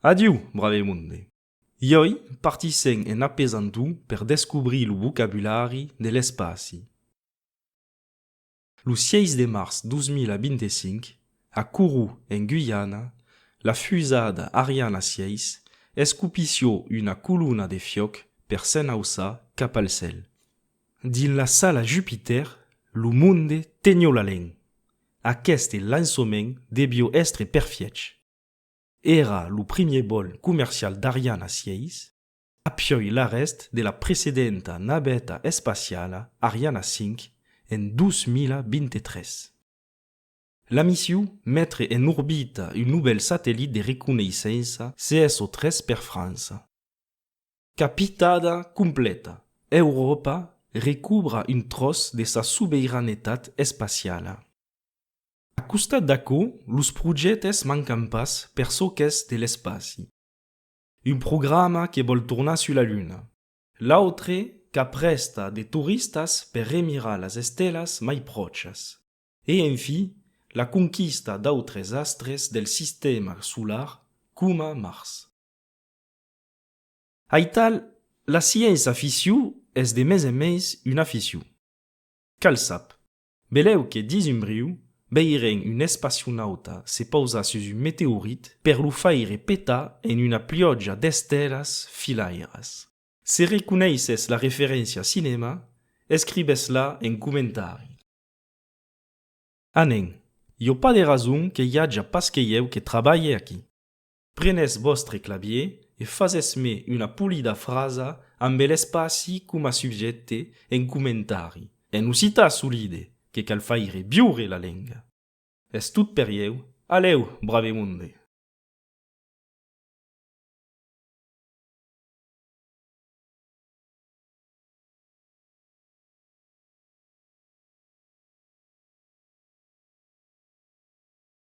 Adiu, brave monde! Iòi partissèm en apesant-o per descobrir lo vocabulari de l'espaci. Lo 6 de març 2025, a Kourou, en Guyana, la fusada Ariana 6 escopissió una colona de fiòc per s'enauçar cap al cèl. Dins la sala Jupitèr, lo monde tenió la len. Aqueste lançoment debió èstre perfièch. Èra lo primier vòl comercial d'Ariana 6, apiòi l'arrèst de la precedenta naveta espaciala Ariana 5 en 2023. La missiu metre en orbita un novèl satellit de reconeissença CSO3 per França. Capitada completa, Euròpa recubra un tròç de sa sobeiranetat espaciala. A costat d'aquò, los projèctes mancan pas per çò qu'es de l'espaci. Un programa que vòl tornar sus la Luna. L'autre qu'aprèsta de toristas per remirar las estelas mai pròchas. E enfí, la conquista d'autres astres del sistèma solar coma Mars. Aital, la sièis aficiu es de mes en mes un aficiu. Cal sap, belèu que dins un briu, veirem un espacionauta se pausar sus un meteorit per lo faire petar en una pliòja d'estelas filairas. Se reconeisses la referéncia cinèma, escribes-la en comentari. A nen, jo pas de rason que i aja pas que ieu que trabalhe aquí. Prenètz vòstre clavier e fasètz-me una polida frasa ambe l'espaci coma subjècte en comentari, en occitan solide, que cal faire viure la lenga. Es tot per ieu. Alèu, brave monde!